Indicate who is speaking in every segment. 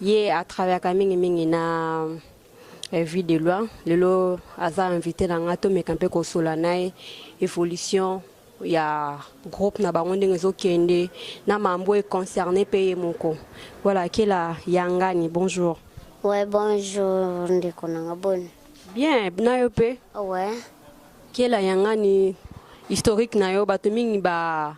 Speaker 1: ye a travaillaka mingi mingi na eh, vie de loi lelo aza invité na nga tomeka mpe kosola na ye évolution ya groupe na bango ndenge ezokende na mambo econcerne mpe ye moko voilà kela yangani bonjour ouais
Speaker 2: bonjour ndeko na nga boni bien na yo
Speaker 1: mpe ouais
Speaker 2: kela
Speaker 1: yangani historique na yo bato mingi ba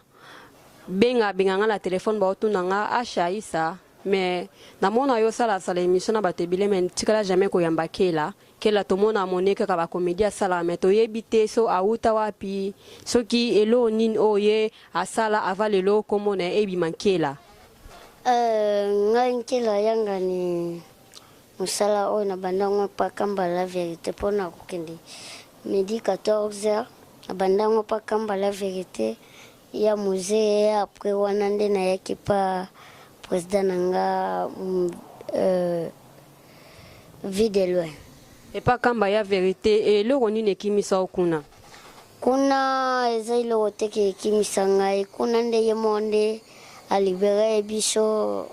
Speaker 1: benga benga nga na telefone baotuna nga asha isa mais namona yo osalasala émission na bato ebele mais tikala jamais koyamba kela kela tomona amone kaka bakomedi asalaka mais toyebi te so awuta wapi soki eloo nini oyo ye asala ava lelo komona ebima nkela uh, ngai
Speaker 2: nkela yangani Musala oyo na banda ngo epa kamba la verite po na kokende midi 14 heures na banda ngo epa kamba la verite ya musee après wana nde na yaki epa president na nga mm, euh, vie de loin epa kamba
Speaker 1: ya verite eloko nini ekimisa yo kuna kuna
Speaker 2: eza eloko te ke ekimisa ngai kuna nde ye moko nde alibere biso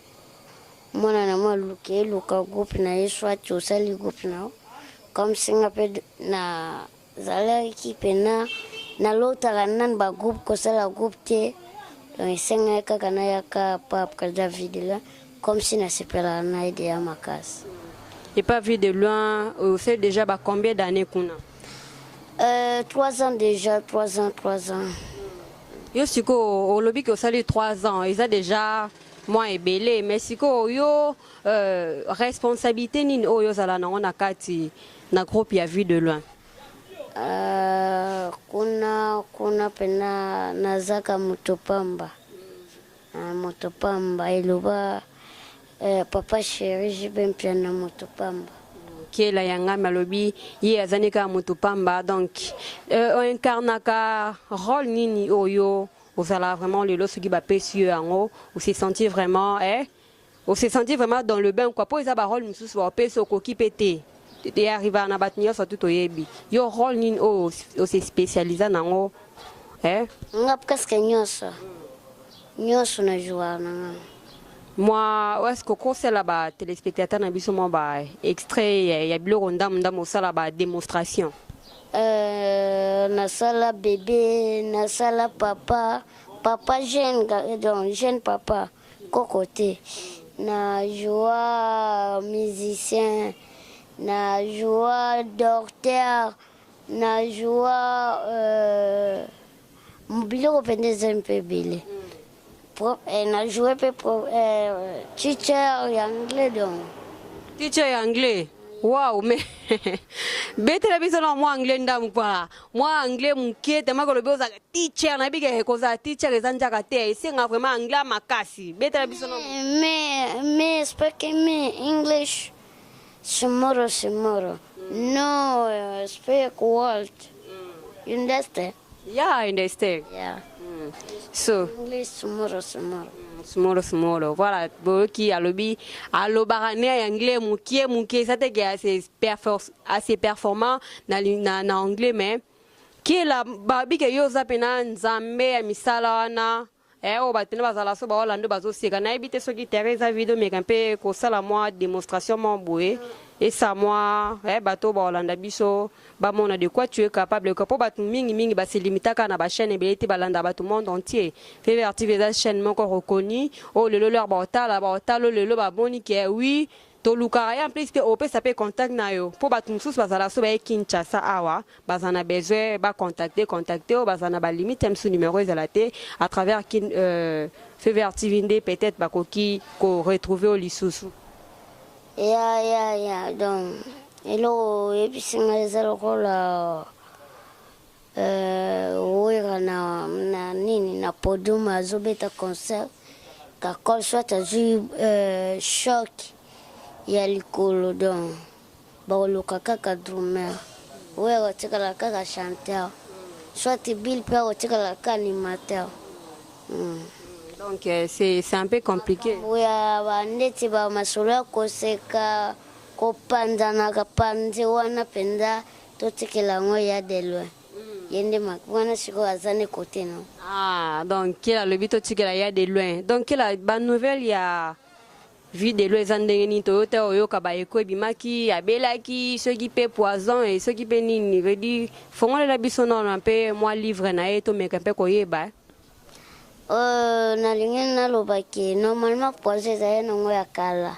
Speaker 2: mwana na mwa luke luka groupe na ye swati osali groupe na yo comme singa mpe nazalaki mpena nalotaka nani bagroupe kosala groupe te donc esengaki kaka nayaka pa après david la comme si nasepelaka na ye deya makasi epa vie
Speaker 1: de loin osali déjà ba combien d'année kuna euh, 3 ans déjà
Speaker 2: 3 ans 3 ans
Speaker 1: yo sikoyo olobi ke osali 3 ans eza déjà mwa ebele me sikoyo yo euh, responsabilité nini oyo ozala nango na kati na groupe ya vue de loin uh,
Speaker 2: kuna kuna pena nazaka moto pamba uh, moto pamba eloba uh, papa sheri jibe mpia na moto pamba kiela ya
Speaker 1: ngami alobi ye azani kaka moto pamba donc uh, oincarnaka role nini oyo ozalaka vraiment lelo soki bapesi yo yango ose sentir vraiment eh? ose sentir vraiment dans le bain kua mpo eza barole mosusu baopesi okoki mpe te eyarrivaka na bato nyonso tu toyebi yo role nini oyo ose spécialisa nango eh?
Speaker 2: nga presque nyonso nyonso na jouaka na nga mwa
Speaker 1: eske okosala batelespectateur na biso mwa baextrait ya biloko ndambo ndambo osala badémonstration Euh,
Speaker 2: nasala bebe nasala papa papa jeune donc jeune papa koko te na joa musicien na joa docteur na joa euh, biloko mpenza ezali mpe ebele eh, na joue mpe eh, teacher ya anglais donc teacher ya
Speaker 1: anglais wow me betela biso na mwa anglais ndamu pa mwa anglais moke tema kolobi oza teacher nayebi ke kozala teacher eza njaka te esenga vraiment anglais makasi betela biso na me me
Speaker 2: speaking me english Tomorrow, tomorrow. No, speak world. You understand? Yeah, I understand.
Speaker 1: Yeah. Mm.
Speaker 2: So.
Speaker 1: English,
Speaker 2: tomorrow, tomorrow. smolo
Speaker 1: smolo voilà boyoki alobi alobaka ne ya anglais mokie mokie eza te ke assez performant na, na, na anglais mais kila babi ke yo oza mpena nzambe ya misala wana Eh oyo bato na bazala so ba Orlando bazoseka nayebi te soki terrain eza vide omeka mpe kosala mwa demonstration mwa boye esa mwa eh, bato oyo baolanda biso bamona de quoi tu es capable mpo bato mingi mingi basilimitaka na bachaîne ebele te balanda bato monde entier fevr tv eza chaîne moko reconnue oyo lelo lor baotala baotala lelo bamoni ke oui Tolukaka ya plus te opesa pe contact nayo po batu mususu bazala so baye Kinshasa awa baza na besoin ba contacter contacter yo baza na ba limite ya misu numero ezala te à travers kin Fever TV nde peut etre bakoki ko retrouver yo lisusu. Ya ya
Speaker 2: ya donc eloko oyebisi nga eza lokola Euh, Werra na, na nini na podium azobeta concert kakol soit azwi euh, choc ya likolo donc bakoluka kaka drummer oyo akotikala kaka chanteur soit bill mpe akotikala kaka animateur mm. donc
Speaker 1: euh, c'est un peu compliqué oya
Speaker 2: bandeti bamasolo ya koseka kopanzanaka panzi wana mpenza Totikela yango ya de loin. Ye nde mak wana sikoyo aza ne kote no. Ah, donc
Speaker 1: kela alobi totikela ya de loin. Donc kela ba nouvelle ya vie de loin eza ndenge nini toyo te oyoka ba eko ebimaki abelaki soki pe poison et soki pe nini veut dire fongolela biso nona pe mwa livre na ye tomeka pe koyeba. Euh,
Speaker 2: nalingi naloba ke normalement poison ezali nango ya kala.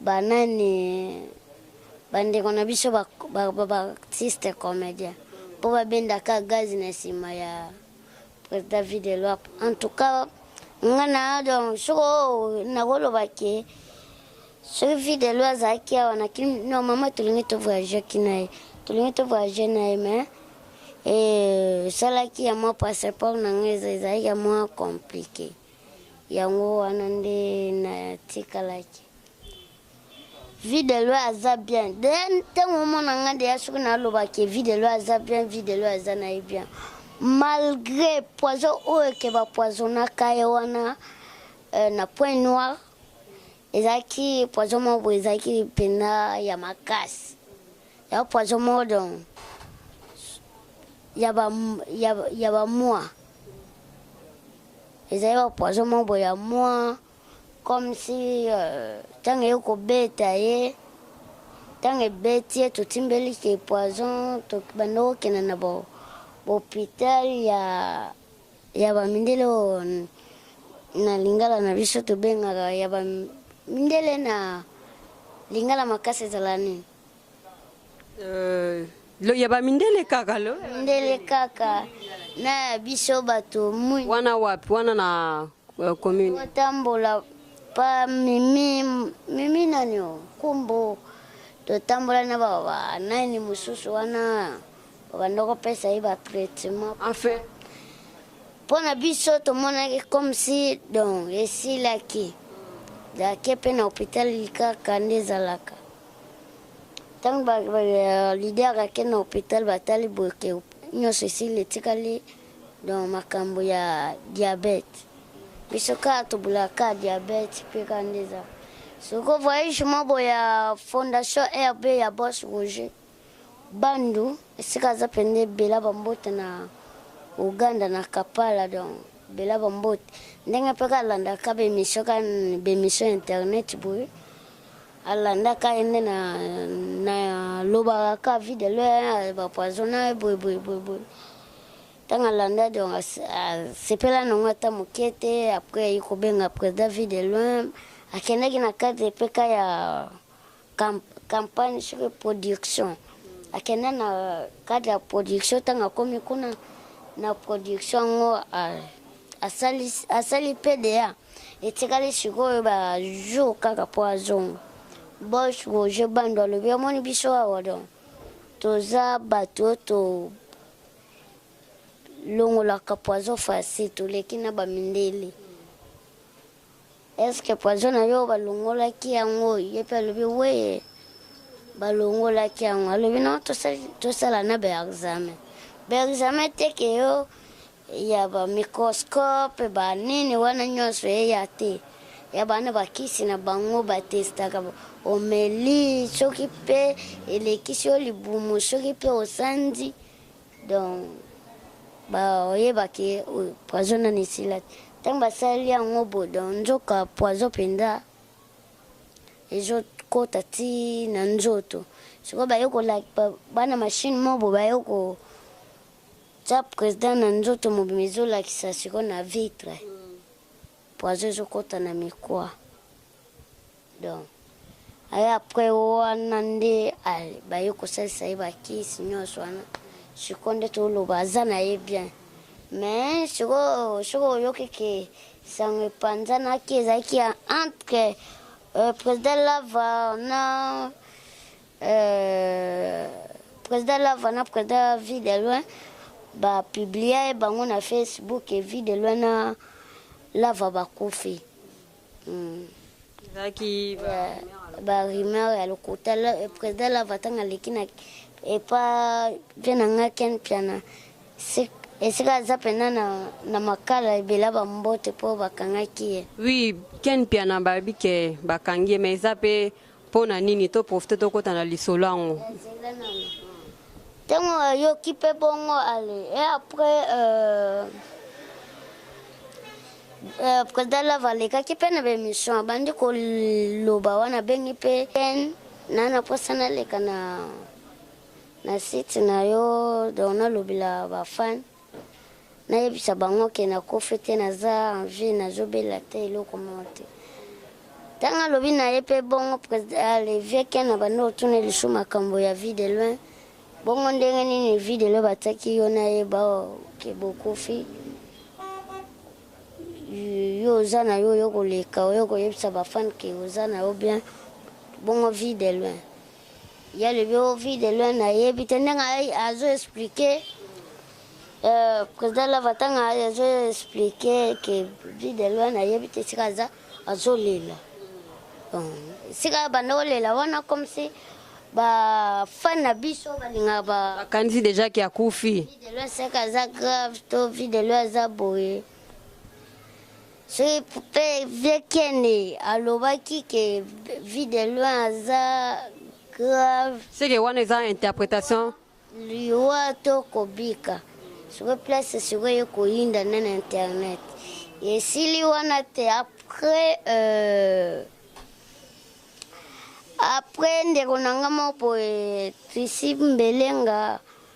Speaker 2: banani bandeko na biso baartiste ba, ba, ba comédien mpo babendaka gazi na nsima ya président vide loi en tout cas nga na donc soko oh, nakoloba ke soki vide loi azalaki awa na kini no mama tolingi tovoyageki na ye tolingi tovoyage na ye mais esalaki eh, ya mwa passeport na ngai ezalaki ya mwa compliqué Yango wana nde natikalaki. Vie de loi aza bien. De ntango omona nga ndeya soki naloba ke vie de loi aza bien, vie de loi aza na ye bien. Malgré poison oyo ke ba poisonaka ye wana euh, na point noir ezalaki poison moko ezalaki mpenza ya makasi. ya poison modon ya ba ya, ya ba moi ezali ba poison mobo ya moi comme si euh, ntango eye kobeta ye ntango ebeti ye totimbeli ke poison tobanda kokenda na bohôpital ya ya bamindele oyo na lingala na biso tobengaka ya bamindele na lingala makasi ezala nini Euh,
Speaker 1: lo ya ba mindele kaka lo mindele kaka
Speaker 2: na biso bato mui wana wapi
Speaker 1: wana na uh, commune otambola
Speaker 2: pa mimi mimi nani o kumbu totambola na baba nani mosusu wana babanda kopesa ye batraitement enfin mpo na biso tomonaki comme si donc esilaki dake mpe na hôpital likaka nde ezalaka ntango leader ake na hopital batali boke nyonso esili etikali donc makambo ya diabete biso kaka tobulaka diabete mpe kaka nde eza soko voyage mobo ya fondation rb ya bos roger Bandou esika aza pende bela ba mbote na Ouganda na Kapala donc bela ba mbote ndenge pe ka landa ka be mission ka be mission internet boye alanda ka ende na na loba ka vie de l'heure ba poison na boye boye boye boye tanga landa donc sepela na ngo ata mokete après il ko benga président vie de loin akendaki na cadre pe ka ya campagne sur production akenda na cadre ya production ntango akomi kuna na production yango asali pda etikali sikoyo bajour kaka mpo azonga bosh roger bando alobi amoni biso awa don toza bato oyo to longolaka poison facile toleki na bamindele Eske poison na yo balongolaki yango? Ye mpe alobi weye balongolaki yango. Alobi no tosala na baexamen baexamen teke yo ya bamicroscope banini wana nyonso eya te ya bana bakisi na bango batestaka omeli soki mpe elekisi yo libumu soki mpe osanzi donc baoyeba ke oyo poison nani esila te ntango basali yango bo donc nzoka poison mpenza ezokota ti na nzoto sikoyo baye kolakpa bana mashine mobo baye kotya président na nzoto mobima ezolakisa sikoyo na vitre poison ezokota na mikwa donc aye après wana nde baye kosalisa ye bakisi nyonso wana sikoyo nde toloba aza na ye bien mais sikoyo soki oyoki ke sango epanzanaki ezalaki entre euh, président lava na euh, président lava na président vie de loin bapiblia ye bango na facebook vie de loin na lava bakufi
Speaker 1: ezalaki ba
Speaker 2: rumeur ya lokuta président lava ntango aleki na epa mpe na ngai ken mpiana esika aza mpena na makala ebela bambote mpo bakangaki ye wi ken
Speaker 1: mpiana bayebi ke bakangi ye ma eza mpe Pona nini to profite tokota na lisolo yango. Tango
Speaker 2: ayoki pe bongo ale et après euh, euh, président Lava alekaki pe na bemission abandi koloba wana abengi pe ken na na posa naleka na na site na yo donc nalobela bafane nayebisa bango ke nakufi te naza en vie nazobela te eloko moko te ntango alobi na ye mpe bongo levieke na banda otuna lisu makambo ya vie de loin bongo ndenge nini vie de loin batiaki yo na ye baoke bokufi yo oza na yo oyo koleka oyo koyebisa bafane ke oza na yo bien bongo vie de loin ye alobi o vie de loin nayebi te ndenge azo explike euh, président lava ntanga azo explike ke vie de loin nayebi te esika aza azolela esika banda kolela wana comme si bafani na biso balingaka bakanisi deja ke akufi
Speaker 1: vie de loin seka aza
Speaker 2: grave to vie de loin aza boye soki pe vie kende alobaki ke vie de loin aza grave seke wana eza
Speaker 1: interpretation liwa
Speaker 2: to kobika sikoyo place sikoyo ye koyinda nde na internet esili wana te après euh, après ndeko na nga moko boye trisi mbelenga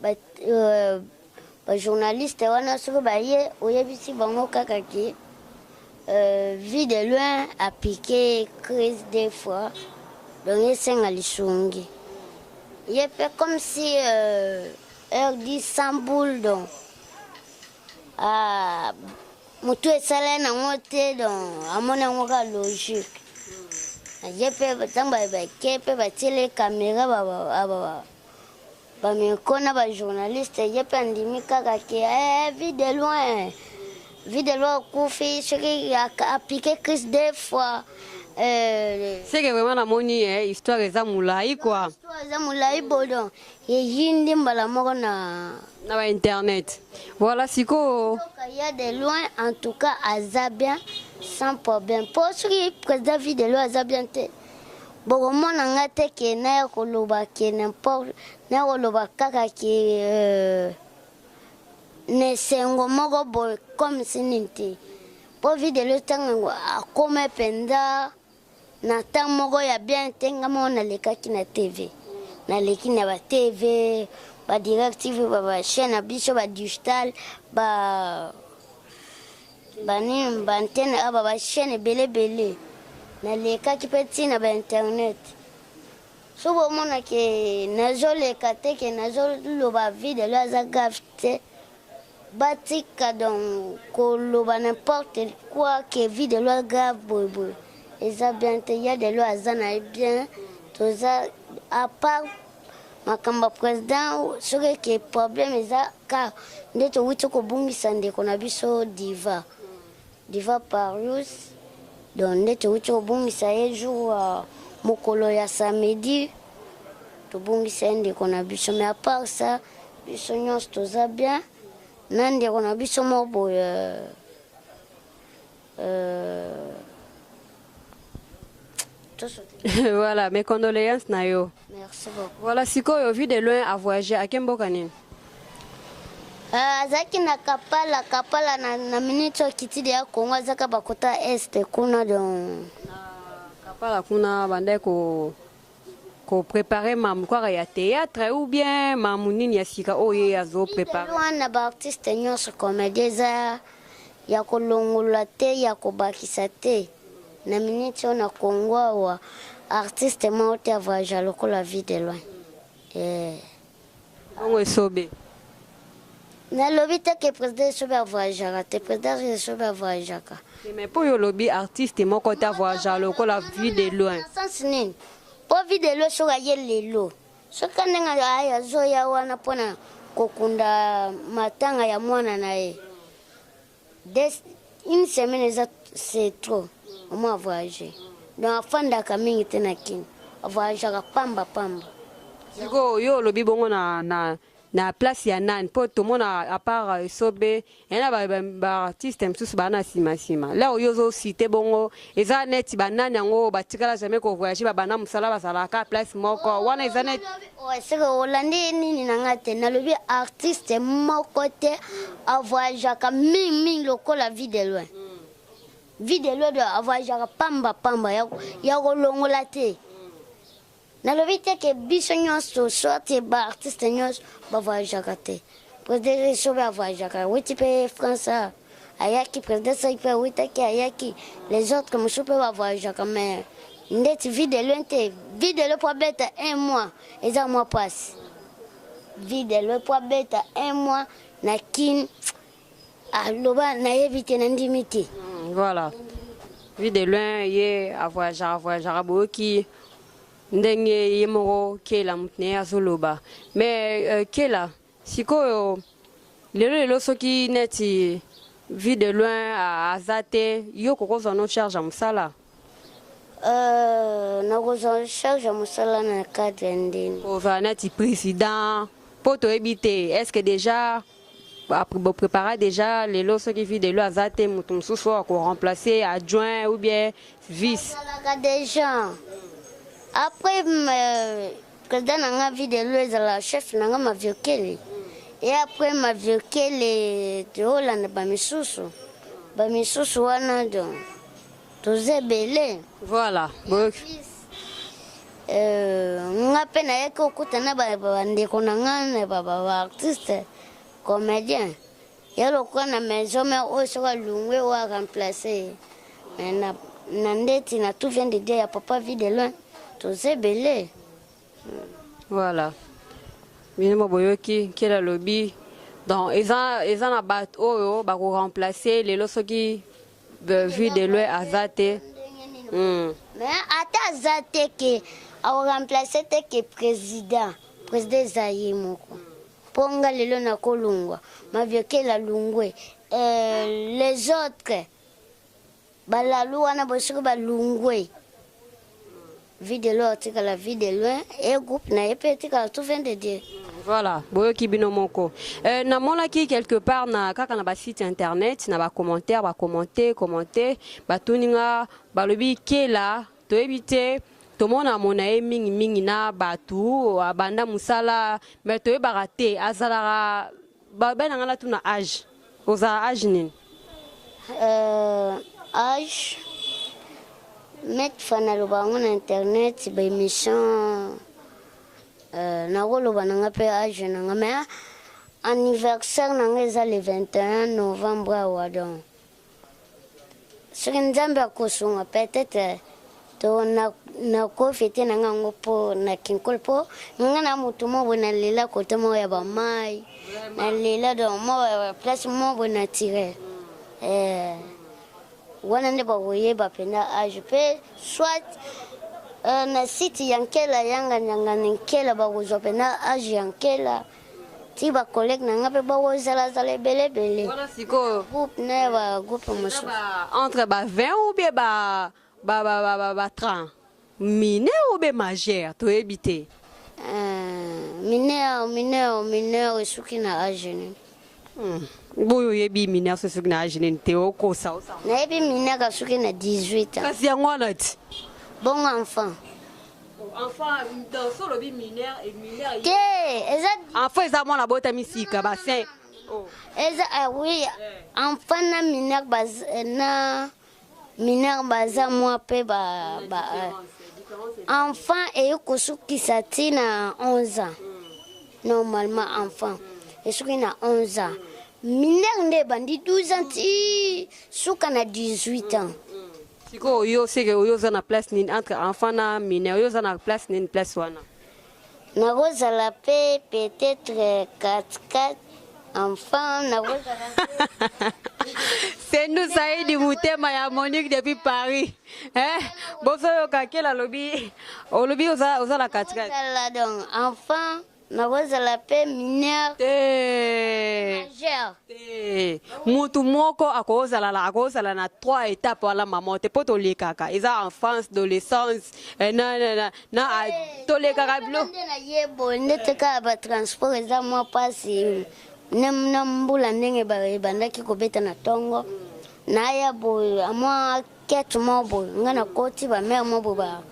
Speaker 2: ba euh, ba journaliste wana soki baye oyebisi bango kaka ke euh, vie de loin apike crise des fois donc esenga lisungi ye mpe comme si euh, heure dit sans boule donc ah, motu esala nango te donc amoni yango ka logique ye mpe ntango bake mpe batiele kamera Bameko na ba journaliste ye mpe andimi kaka ke eh, vie de loin vie de loin okufi soki apike crise deux fois euh,
Speaker 1: seke vraiment namoni eh, histoire eza molai kua eza molai
Speaker 2: bodo eyindi mbala moko na na ba internet
Speaker 1: voilà sikoyo ya de loin
Speaker 2: en tout cas aza bien sans problème mpo soki président vie de loin aza bien te bokomona nga te ke naya koloba ke nimporte naya koloba kaka ke euh, na esengo moko boye comme si nini te mpo videlo ntango yango akoma mpenza na ntango moko ya bien te nga moko nalekaki na tv naleki na ba tv ba directive ba ba chaîne na biso ba digital ba banini bantene aba bachaine ebele ebele nalekaki mpe ntina bainternet so bomona ke nazoleka te ke nazoloba vide lo aza grave te batika donc koloba n'importe quoi ke vide lo grave boyeboye eza bien te ya de lo aza na ye bien toza apart makambo ya président soki eke problème eza car nde towuti kobungisa ndeko na biso diva diva parius donc nde towuti kobungisa ye jour uh, mokolo ya samedi tobungisa ye ndeko na biso mais apart ça biso nyonso toza bien na ndeko na biso moko boye euh,
Speaker 1: Euh... voilà, mes condoléances Nayo. Merci beaucoup. Voilà,
Speaker 2: Sikoyo, vu de
Speaker 1: loin à voyager, à quel Kanine euh,
Speaker 2: azalaki na kapala kapala na, na miniti oyo kitidi ya kongo azaka bakota este kuna don kapala
Speaker 1: kuna bandai ko ko preparer mamu kaka ya théâtre ou bien mamu nini ya sika oyo
Speaker 2: ye azo
Speaker 1: preparer
Speaker 2: wana
Speaker 1: ba
Speaker 2: artiste
Speaker 1: nyonso
Speaker 2: komedi
Speaker 1: eza
Speaker 2: ya kolongola te ya kobakisa te na miniti oyo na kongo awa artiste moko te avoyaja lokola vie de loin eh.
Speaker 1: Bongo esobe.
Speaker 2: nalobi te ke president esobe avoyageaka te president esobe avoyageaka mais mpo yo olobi
Speaker 1: artiste moko te avoyagea lokola vue de loin sens nini
Speaker 2: mpo vue de loin soki aye lelo soki ndenge aye azoya wana mpona kokunda matanga ya mwana na ye Des, une semaine eza c'est trop omo a voyage donc afandaka mingi te na kin avoyageaka pamba pamba sikoyo
Speaker 1: yo olobi bongo na, na, na place ya nani mpo tomona apart esobe yana baartiste mosusu baa na nsima nsima leo yo ozosite bongo eza neti ba nani yango oyo batikala jamais ko voyager ba banda mosala bazalaka place moko oh, wana eza neti oh, seke olandi
Speaker 2: ye nini na ngai te nalobi artiste moko te avoyageaka mingi mingi lokola vie de loin vie de loin avoyageaka pamba pamba ya kolongola te nalobi te ke biso nyonso soit ba artiste nyonso ba voyageaka te president sobe avoyageaka awuti mpe france awa ayaki president saki mpe awutaki ayaki les autres mosusu mpe ba voyageaka mais ndeti vie de loin te vie de loin mpo abeta un mois eza mwa mpasi vie de loin mpo abeta un mois na kin aloba nayebi te nandimi te hmm, voilà
Speaker 1: vu de loin ye avoyagaka avoyagaka boyoki ndenge ye moko kela moto na ye azoloba mais euh, kela sikoyo lelo lelo soki neti vie de loin aza te yo kokozwa no charge ya mosala Euh,
Speaker 2: nakozwa charge ya mosala na cadre ya ndeni kozala nati
Speaker 1: président mpo toyebi te est ce que déjà boprépara déjà lelo soki vi delo aza te moto mosusu oyo akoremplace adjoint ou bien vice ezalaka déjà
Speaker 2: après euh, président na nga vi delo ezala chef na nga maviokele e après maviokele toolanda bamisusu bamisusu wana donc toza ebele voilà boyoki
Speaker 1: euh,
Speaker 2: nga mpe nayaki okuta na bandeko na nga na baartiste comédien ya lokola na maison mare oyo soki alungwe oyo aremplace ye mais na ndeti na tout vient de dire ya papa vie de loin toza ebele
Speaker 1: voilà bino mo boyoki nkele alobi donc eza, eza na bato oyo bakoremplace lelo soki Vue de loin aza te. Hmm.
Speaker 2: Mais ata aza te ke au remplacer te ke président. Président eza ye moko. Mpo nga lelo nakolongwa maviokela lungwe euh, les autres balalu wana bosoki balungwe Vie de loin atikala vie de loin e groupe na ye mpe etikala tout vient de Dieu. Voilà, boyoki
Speaker 1: bino moko. Euh, namonaki quelque part na kaka na ba site internet na ba commentaires ba commenter commenter batuni nga balobi kela toyebi te tomona mona ye mingi mingi na bato abanda mosala mais toyebaka te azalaka Ba bana nga na tuna age. Oza age nini? Euh,
Speaker 2: age Maître Fana loba yango na internet ba émission euh, nakoloba na nga mpe age na nga mais anniversaire na nga eza le 21 novembre awa donc soki nzambe akosunga peut-être to nakofi te na nga yango mpo na kinkol mpo nga na motu moko nalela kote moko ya bamai nalela donc moko ya baplace moko naturel eh, wana nde bakoyeba mpenza age mpe soit eh, na site ya nkela yanga nyangani nkela bakozwa mpenza age ya nkela ti ba collègue na nga mpe bakozalazala ebele ebele wana sikoyo groupe na ya ba groupe mosusu entre ba
Speaker 1: 20 ou bien ba ba ba ba ba, ba 30 mineur ou bien majeur toyebi te euh, mineur
Speaker 2: mineur mineur esuki na age nini
Speaker 1: boye oyebi mineur so soki na age nini te okosa nayebi mineur
Speaker 2: asoki na 18 kasi yango wana ti
Speaker 1: bongo
Speaker 2: enfant
Speaker 1: enfant
Speaker 2: eza mwana abotami sika
Speaker 1: basin oh. eza
Speaker 2: ah oui eh. enfant na mineur eh, na mineur baza mwa mpe ba, ba euh, enfant eye kosukisa ti na 11 ans normalement enfant esuki na 11 ans mineur nde ebandi 12 ans ti suka na 18 ans sikoyo yo
Speaker 1: seke oyo oza na place nini entre enfant na mineur oyo oza na place nini place wana
Speaker 2: Nakozala pe peut-être 4-4 enfant nakozala
Speaker 1: Sendu Saidi mutema ya Monique depuis Paris. Eh, boso yoka kela lobi. Olobi oza oza la katika. Nakozala donc
Speaker 2: enfant nakozala pe mineur Eh. majeur. Eh,
Speaker 1: mutu moko akozala la akozala na trois étapes wala maman te po tolekaka eza enfance adolescence eh, na, na, na, na tolekaka bilo nde na ye boye
Speaker 2: ndete kaka batransport eza mwa mpasi na mbula ndenge ebandaki kobeta na ntongo naya boye mwa kete mwa boye ngai nakoti bamere mwa boye ba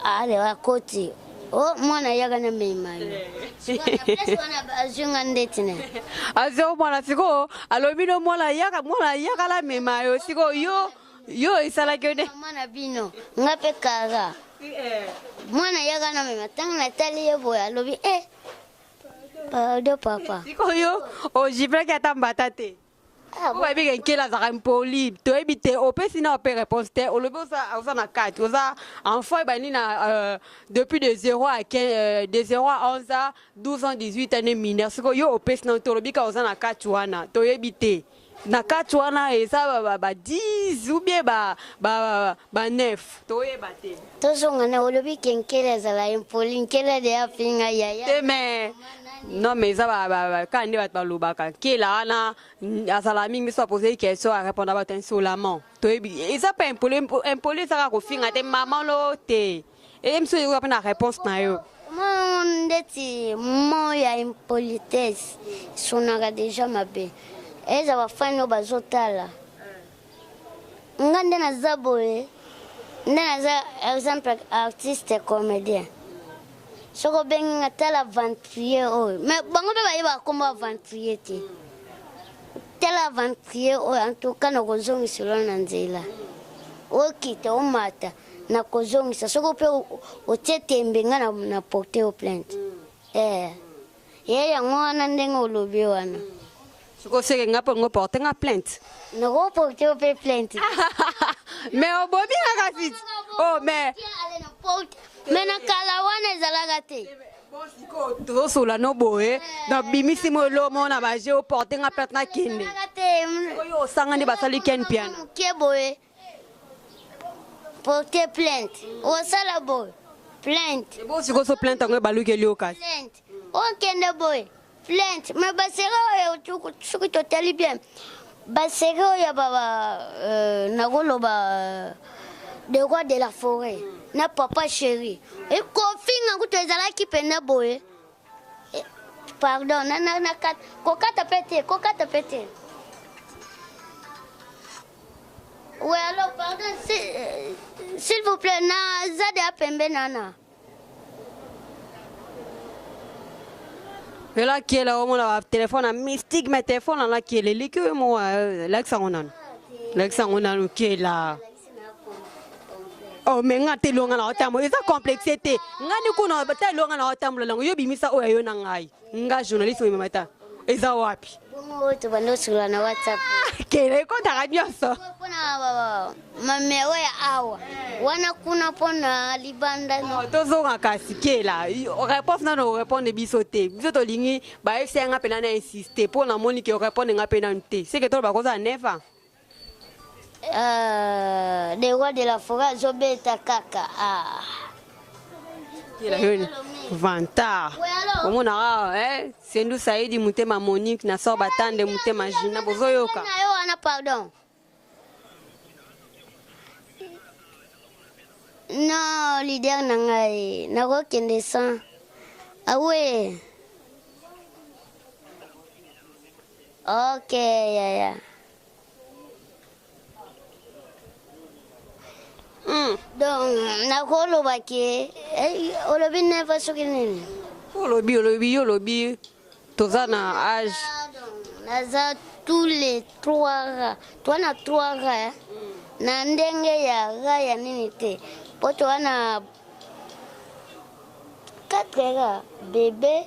Speaker 2: ale akoti o oh, mwana yaka na meimani azwinga ndeti na azwi mwana
Speaker 1: sikoyo alobi no mwana yaka mwana yaka na mema yo sikoyo yo yo esalaki yo nde mama na bino
Speaker 2: nga mpe kara eh. mwana yaka na mema ntango natali ye boye alobi e eh, pado papa sikoyo
Speaker 1: ojiplaki ata mbata te ah, oyebi ke nkela azalaka impoli toyebi te opesi na ope réponse te olobi oza na kati oza enfant ebandi na euh, depuis de 0 à 15 euh, de 0 à 11 ans 12 ans 18 ans ne mineur sikoyo yo opesi na te olobi ka oza na kati wana toyebi te na kati wana eza ba 10 ou bien ba ba ba 9 toyeba te tozonga na
Speaker 2: olobi ke nkele azala impoli nkele de afinga yaya te mais
Speaker 1: non mais eza kaka nde bato balobaka nkela wana azala mingi so apose question arépondre bato insolamment toyebi eza mpe impoli impoli eza kaka kofinga te mama lo te eyebisi oyo ekoka mpe na réponse na yo ndeti
Speaker 2: mo ya impolitesse esonaka deja mabe eza bafani oyo bazotala nga nde naza boye nde naza exemple artiste comédien soki obengi nga tala aventurier oyo mais bango mpe bayebaka nkombo aventurier te tala aventurier oyo antuka nakozongiselo na nzela okita omata nakozongisa soko mpe otie tembe nga na, na porte yo plainte mm. eh. ye yango wana ndenge olobi wana mm. soki oseke
Speaker 1: nga mpo ngo porte nga plainte nakoporte
Speaker 2: yo mpe plainte me
Speaker 1: obomi nga kasi o oh, me
Speaker 2: me na kala wana ezalaka te
Speaker 1: tozosola no boye nabimisi mo elomo na baje oporte nga plainte nakende oyo osanga nde basali ken piana moke boye
Speaker 2: porte plainte osala boye plainte bosikoso plainte
Speaker 1: yango ebalukeli yo kasi plainte okende
Speaker 2: boye plainte me basere oyo soki totali bien basere oyo ya baba euh, nakoloba euh, de roi de la forêt na papa chéri ekofinga kutu ezalaki mpenza boye Eh, pardon, na na na kat, kokata pete, kokata pete. Oui, alors pardon, euh, s'il vous plaît, na zade apembe nana.
Speaker 1: elakiela omona batelefone ya mystique me telefone anakiela eliki oyo mowa lakisa yango nanu lakisa yango nanu kiela Oh, mais nga te longa na otambo eza complexe te nga ni kuna ta longa na otambo lango yo bimisa oyo yo na ngai nga journaliste oyo mamata eza wapi bongo to bando
Speaker 2: sula na whatsapp ah, kele ko ta
Speaker 1: radio so pona
Speaker 2: mame oya awa wana kuna pona libanda no oh, to zonga kasi
Speaker 1: kela réponse na no répondre biso te biso to lingi ba esi nga pena na insister pona moni ke répondre nga pena te c'est que to ba ko za neva Ah,
Speaker 2: le roi de la forêt azobeta kaka ah.
Speaker 1: vantard omonaka eh, sendu saidi motema monique na sor batande motema jina bozoyoka na yo wana pardon
Speaker 2: non leader na ngai nakokende sans awe ah ok yaya yeah, yeah. Hmm. donc nakoloba ke eh, olobi neva soki nini olobi olobi yo
Speaker 1: olobi toza na age naza
Speaker 2: tous les trois ra toa na trois ra eh. na ndenge ya ra ya nini te mpo toa na quatre ra bebe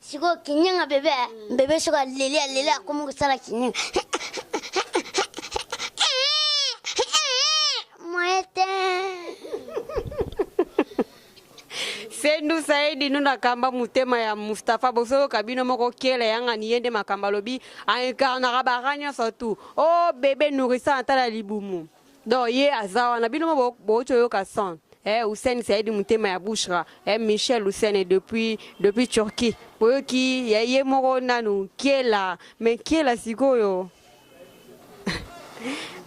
Speaker 2: sikoyo kinyanga bebe eh? bebe soki aleli aleli akomi kosala kinyanga
Speaker 1: sendu saidi no nakamba motema ya mustapha bosoyoka bino moko kele yangani ye nde makambo alobi aincarnaka bara nyonso tu o oh, bebe nourisa atala libumu donc ye aza wana bino mo bouti oyoka son eh, Hussein Saidi motema ya Bouchra eh, Michel Hussein depuis, depuis Turquie boyoki ya ye moko nanu kiela me kiela sikoyo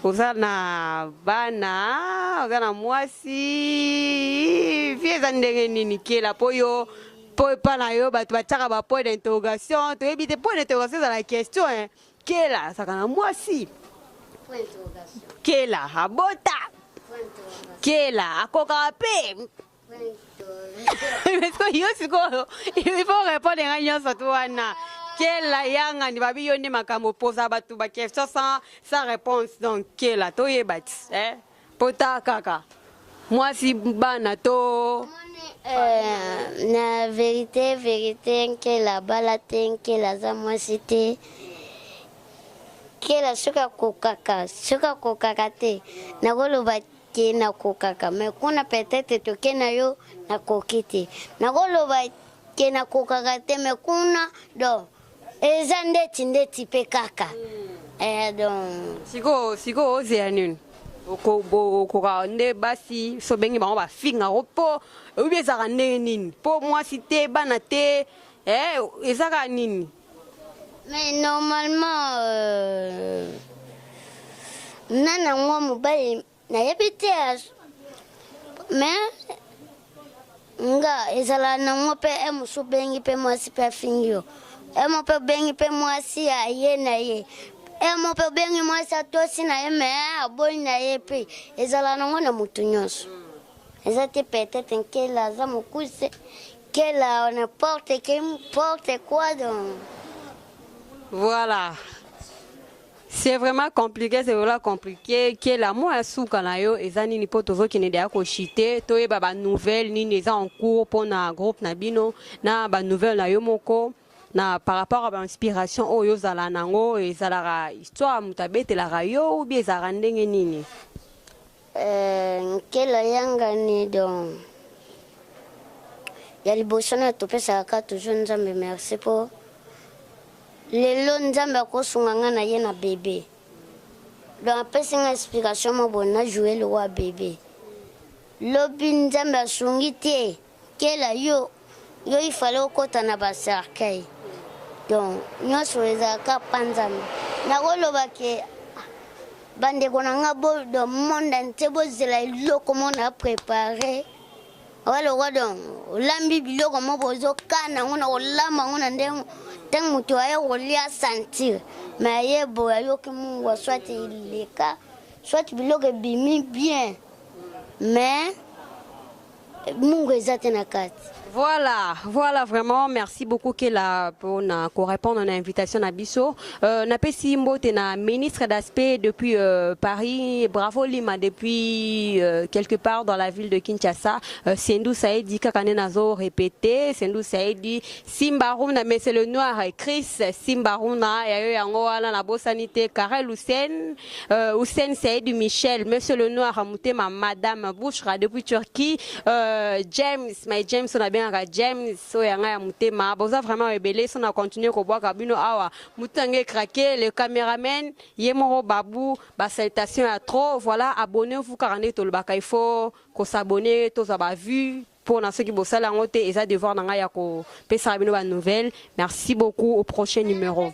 Speaker 1: oza na bana oza na mwasi vi eza ndenge nini kiela mpo yo mpo epa na yo bato batiaka ba point d'interrogation toyebi te point d'interrogation ezala question eh. Kela azalaka na mwasi.
Speaker 2: Kela
Speaker 1: abota. Kela akokaka mpe. yo sikoyo il faut répondre ngai nyonso tu wana kela yangani babi yo nde makambo poza bato baquestion sans réponse donc kela toyeba ti eh? Pota kaka. Mwasi bana to Euh,
Speaker 2: na verite verite nkela abala te nkela aza mwasi te nkela soki akokaka soki akokaka te nakoloba te nakokaka me kuna peut-être toke na yo nakoki te nakoloba te nakokaka te me kuna donc eza ndeti ndeti mpe kaka eh, donc sikoyo sikoyo
Speaker 1: ozela nini okoka nde basi so bengi bango bafinga yango mpo oyebi ezalaka ndenge nini mpo mwasi te bana te eh, ezaka nini mais
Speaker 2: normalement euh, na nango mobali nayebi te me nga ezala nango mpe e mosu bengi mpe mwasi mpe afingi yo e mo mpe obengi mpe mwasi ya ye na ye e mo mpe obengi mwasi atosi na ye me aboyi na ye mpe ezala nango na motu nyonso eza te peut-être nkela aza mokuse nkela n'importe que n'importe quoi donc
Speaker 1: voilà C'est vraiment compliqué, c'est vraiment compliqué. Qui est l'amour à souka na yo, et zani ni poto zo qui n'est d'ailleurs qu'au chité, toi et baba nouvelle, ni n'est en cours pour na groupe na bino, na ba nouvelle na yo moko, na par rapport à l'inspiration, oh yo zala nango, et zala histoire, mutabete la rayo, ou bien zara ndenge nini. Eh,
Speaker 2: nkela yangani donc ya liboso na topesaka ka toujours nzambe merci mpo lelo nzambe akosunga ngai na ye na bebe donc apesi ngai explication moko boye na joue lokola bebe lobi nzambe asungi te Kela yo yo il fallait okota na ba cercueil donc nyonso ezalaka panzana nakoloba ke bandeko na nga bo donc monde entier bozela eloko mo na prépare waloko donc olambi biloko mo bozokana yango na kolamba yango na ndenge ntango moto aye kolia sentir me aye boye ayoki mungwa soit eleka soit biloko ebimi bien mais mungu eza te na kati Voilà,
Speaker 1: voilà vraiment. Merci beaucoup Kela pour na ko répondre à l'invitation na biso. Euh, na pesi mbote na ministre d'aspect depuis euh, Paris. Bravo Lima depuis euh, quelque part dans la ville de Kinshasa. Euh, Sendou Saedi kakane nazo répété. Sendou Saedi Simbaruna mais c'est le noir Chris Simbaruna ya yo yango wana na bosani te Karel Hussein euh, Hussein Saïd Michel monsieur le noir mutema madame Bouchra depuis Turquie euh, James my James on a bien ka James so ya nga ya mutema boza vraiment ebele so na continuer ko bwaka bino awa mutange craquer le cameraman yemoro babu ba salutations ya trop voilà abonnez-vous car on est tolobaka il faut ko s'abonner tozwa ba vues pona soki bosali yango te eza devoir na ngai ya kopesaka bino ba nouvelle merci beaucoup au prochain numero